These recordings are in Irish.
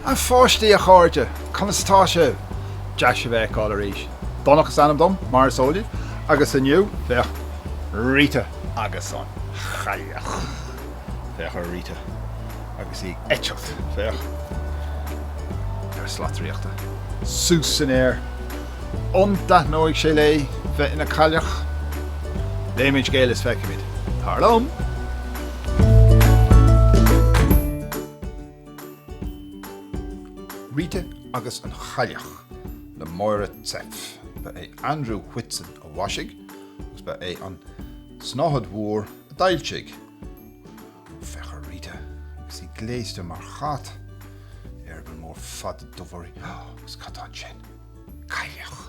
A pháistí, a chairde, conas atá sibh? Deas sibh a fheiceáil arís. Donncha is ainm dom, mar is eol daoibh, agus inniu, féach, Rita agus an Chailleach. Féach ar Rita. agus í ag eitilt, féach ar shlat draíochta, suas san aer. An dtaitneoidh sé léi bheith ina cailleach? Léimis an scéal is feicfimid. Tar liom! Rita agus an Chailleach le Máire Zepf. Ba é Andrew Whitson a mhaisigh agus ba é an tSnáthaid Mhór a d'fhoilsigh. Féach ar Rita. Agus í gléasta mar chat. Eireaball mór fada dubh uirthi. Agus cad tá ansin? Cailleach!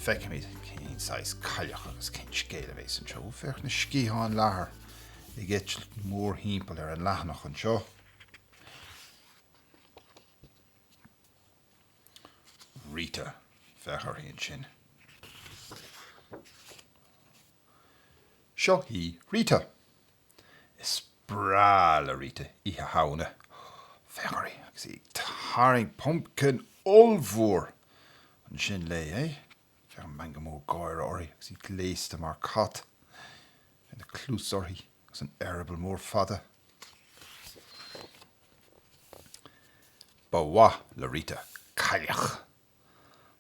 Feicfimid cén saghas cailleach agus cén scéal a bhéas anseo. Ó féach na sciatháin leathair ag eitilt mórthimpeall ar an leathanach anseo. Rita. Féach uirthi ansin. Seo í Rita. Is breá le Rita Oíche Shamhna. Féach uirthi agus í ag tarraingt pumpkin ollmhór ansin léi. Féach an meangadh mór gáire uirthi agus í gléasta mar cat. Féach na cluasa uirthi agus an t-eireaball mór fada. Ba mhaith le Rita cailleach.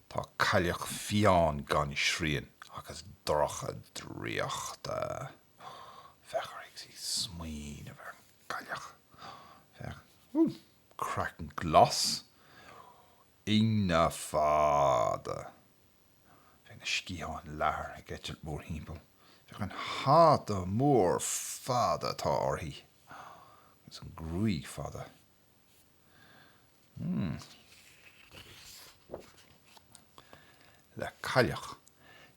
Tá cailleach fiáin gan srian agus dorcha draíochtach. Féach uirthi ag smaoineamh ar an gcailleach. Féach. Ooh! Craiceann glas. Ingne fada. Féach na sciatháin leathair ag eitilt mórthimpeall. Féach an hata mór fada atá uirthi. Agus an ghruaig fada. le cailleach,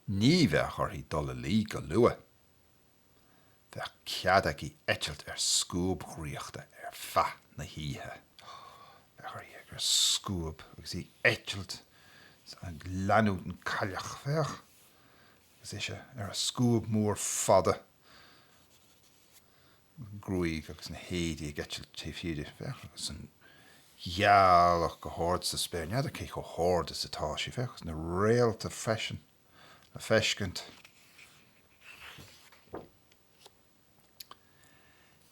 ní bheadh uirthi dul a luí go luath. Bheadh cead aici eitilt ar scuab dhraíochta ar feadh na hoíche. Féach uirthi ar a scuab agus í ag eitilt ag leanúint an cailleach. Féach. Agus ise ar a scuab mór fada. an ghruaig agus na héadaí ag eitilt taobh thiar di. Féach agus an ghealach go hard sa spéir. N'fheadar cé chomh hard is atá sí. Féach agus na réalta freisin le feiscint.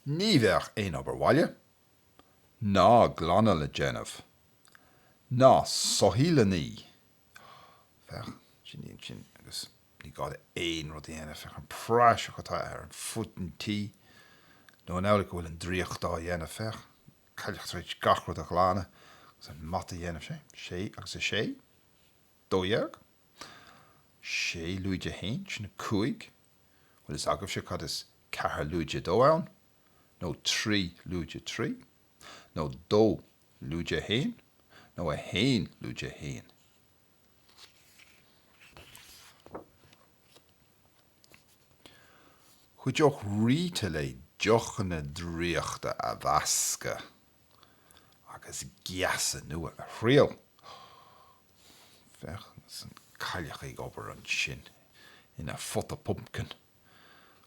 Ní bheadh aon obair bhaile ná glanadh le déanamh, ná soithí le ní, Féach, sin í ansin agus ní gá di aon rud a dhéanamh. Féach an praiseach atá ar fud an tí. Nó an amhlaidh go bhfuil an draíocht á dhéanamh? Féach, cailleach trí gach rud a ghlanadh agus an mata a dhéanamh. Sé? Sé agus a sé? Dó dhéag? Sé lúide a haon, sin a cúig. Bhfuil a fhios agaibhse cad is ceathair lúide a dó hon. Nó trí lúide a trí. nó dó lúide a haon nó a haon lúide a haon. Chuideodh Rita léi deochanna draíochta a mheascadh agus geasa nua a thriail. Féach agus an cailleach ag obair ansin ina pota pumpkin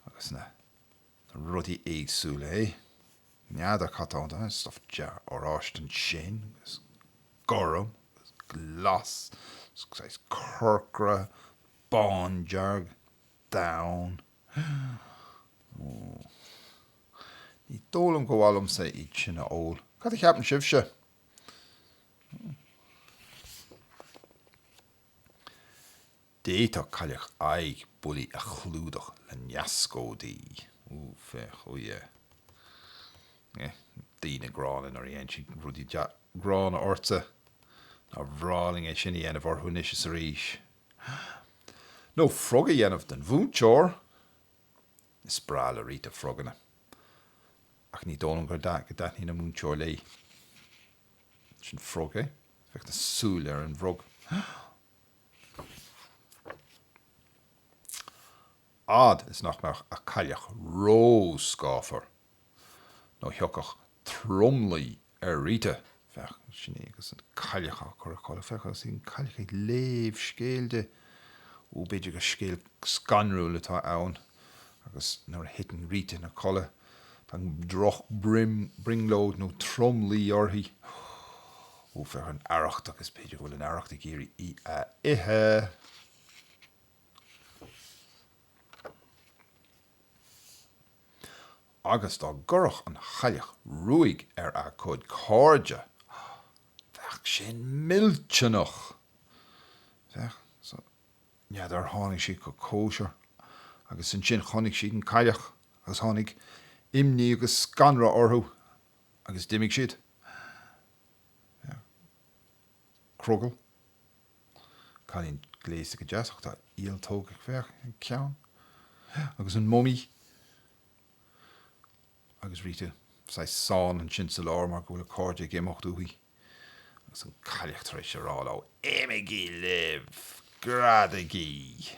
agus na rudaí éagsúla, yeah. N'fheadar cad tá ann, stuff dearg-oráiste ansin agus gorm agus glas agus saghas corcra, bándearg, donn. Ní dóigh liom gur mhaith liomsa iad sin a ól. Cad a cheapann sibhse? D'fhéadfadh cailleach aghaidh Bully a chlúdach le neascóidí. Ooh féach, oh yeah. Yeah, daoine gránna nuair a dhéan siad rudaí gránna ortsa. Nár bhreá linn é sin a dhéanamh orthu anois is arís. Nó frog a dhéanamh den mhúinteoir! Is breá le Rita froganna. Ach ní dóigh liom go dtaitníonn an múinteoir léi. Sin frog, yeah. Féach na súile ar an bhfrog. fhad is nach mbeadh a cailleach ró-scáfar nó thiocfadh tromluí ar Rita. Féach, sin í agus an cailleach á cur a chodladh. Féach, agus an cailleach ag léamh scéil di. Ó, b'fhéidir gur scéal scanrúil atá ann. Agus nuair a thiteann Rita ina codladh, Tá droch brionglóid nó tromluí uirthi. Ó, féach ar an arracht agus b'fhéidir go bhfuil an arracht ag iarraidh í a ithe. Agus dá gcuirfeadh an chailleach ruaig ar a cuid cairde, bheadh sin millteanach! Féach, so. N'fheadar, tháinig siad go cóisir agus ansin chonaic siad an cailleach agus tháinig imní agus scanradh orthu agus d'imigh siad. Yeah. Crogall. Cailín gléasta go deas ach tá ialtóg aici féach ar a ceann. Yeah. Agus an mumaí. agus Rita saghas ansan ansin sa lár mar go bhfuil a cairde ag imeacht uaithi agus an cailleach tar éis a rá leo, Imigí libh! Greadaigí!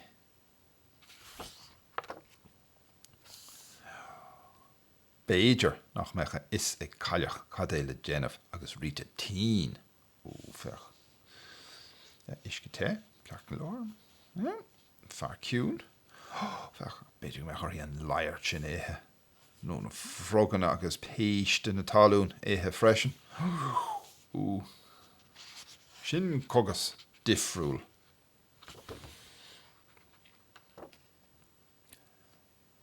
B'fhéidir nach mbeadh a fhios ag cailleach cad é le déanamh agus Rita tinn! Oooh féach. Yeah, uisce te, ceart go leor. Yeah, fear ciúin. Féach, b'fhéidir go mbeadh uirthi an laghairt sin a ithe. nó na froganna agus péiste na talún ithe freisin. Sin cógas difriúil.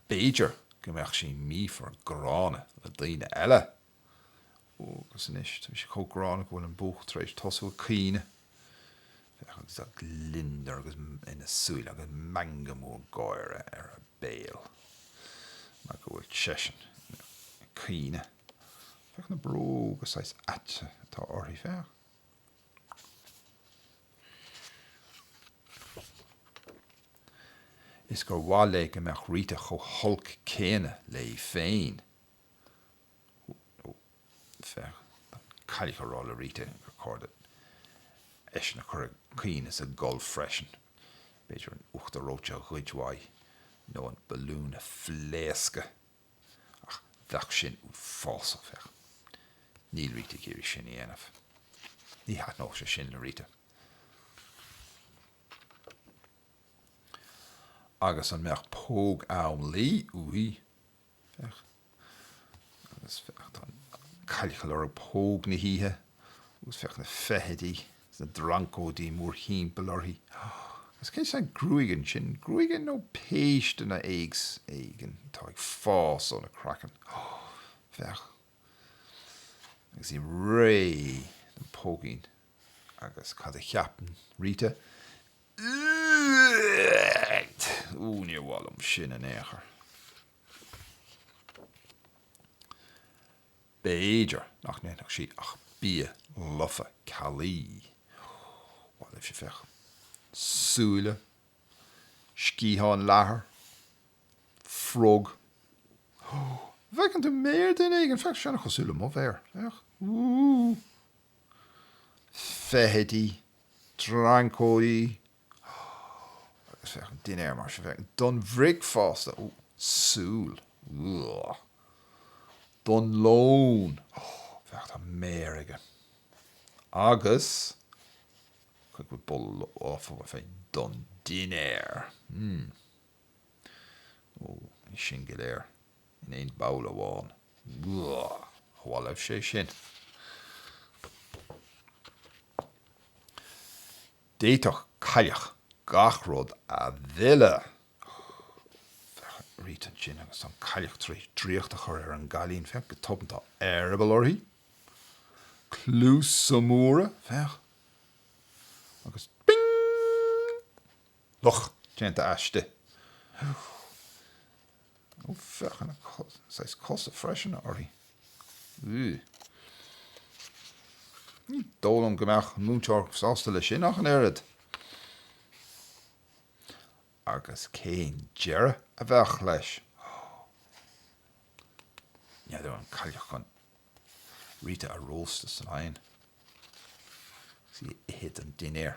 B'fhéidir go mbeadh sí míofar gránna le daoine eile. Agus anois, tá sé chomh gránna go bhfuil an buachaill tar éis tosú ag caoineadh. Féach an gliondar agus ina súile agus meangadh mór gáire ar a béal mar go bhfuil seisean ag caoineadh. Féach na bróga saghas ait atá uirthi, féach. Is gur mhaith léi go mbeadh Rita chomh holc céanna léi féin. féach, an cailleach ag rá le Rita gur ceart di eisean a chur ag caoineadh is ag gol freisin, b'fhéidir an uachtar reoite a ghoid uaidh nó an balún a phléascadh, ach bheadh sin uafásach, féach, níl Rita ag iarraidh sin a dhéanamh. Ní thaitneodh sé sin le Rita. Agus an mbeadh póg am luí uaithi? Féach agus féach, tá an cailleach ag lorg póg na hoíche agus féach na feithidí is na dreancóidí mórthimpeall uirthi. Agus cén saghas gruaige ansin? Gruaig nó péisteanna éigin atá ag fás óna craiceann? Féach. agus í réidh don póigín. Agus cad a cheapann Rita? Ó, níor mhaith liom sin in aon chor. B'fhéidir nach ndéanfadh sí ach bia lofa caillí. Ar mhaith libhse, féach. Súile, sciatháin leathair. frog. Ó, féach, tá méar duine éigin? Féach, sin cosúil le mo mhéar. Féach. Feithidí. Dreancaidí. Agus féach, an dinnéar mar seo. Féach, don bhricfeasta. Ó, súil. Don lón. Ó, féach, tá méar aige. Agus, chuig, go bhfóire orm féin? Don dinnéar. Hmm. Ó, ní sin go léir in aon ball amháin. Ní mhaith liom é sin. D'fhéadfadh Cailleach gach rud a mhilleadh. Féach Rita ansin agus an Cailleach tar éis draíocht a chur ar an gCailín. Féach go tobann, tá eireaball uirthi. Cluasa móra, féach. Agus ping! Luch déanta aisti. Ó, féach an saghas cosa freisin uirthi. Ugh. Ní dóigh liom go mbeadh an múinteoir sásta leis sin ach an oiread. Agus cén deireadh a bheadh leis? N'fheadar an cailleach chun Rita a róstadh san oigheann agus í a ithe don dinnéar.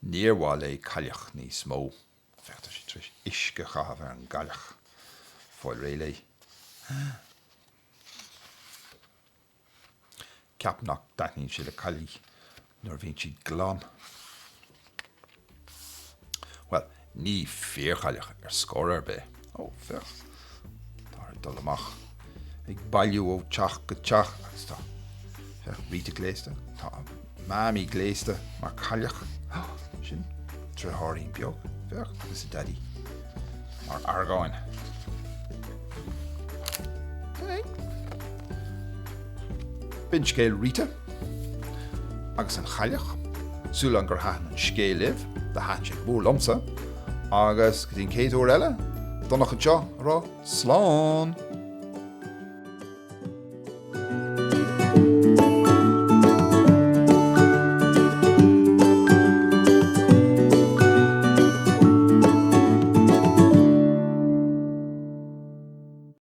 Níor mhaith léi cailleach níos mó. Féach, tá sí tar éis uisce a chaitheamh ar an gcailleach. Fáil réidh léi. Ceapaim nach dtaitníonn sé le cailligh nuair a bhíonn siad glan. Bhuel, Ní fíorchailleach í ar chor ar bith. Ó, féach, tá siad ag dul amach ag bailiú ó teach go teach agus tá, féach, Rita gléasta, tá Mammy gléasta mar chailleach. Ó, sin deartháirín beag, féach, agus a Daidí mar dhragan. B'in scéal Rita. Agus an chailleach. Súil agam gur thaitin an scéal libh, do thaitin sé go mór liomsa, agus go dtí an chéad uair eile, Donncha anseo ag rá slán!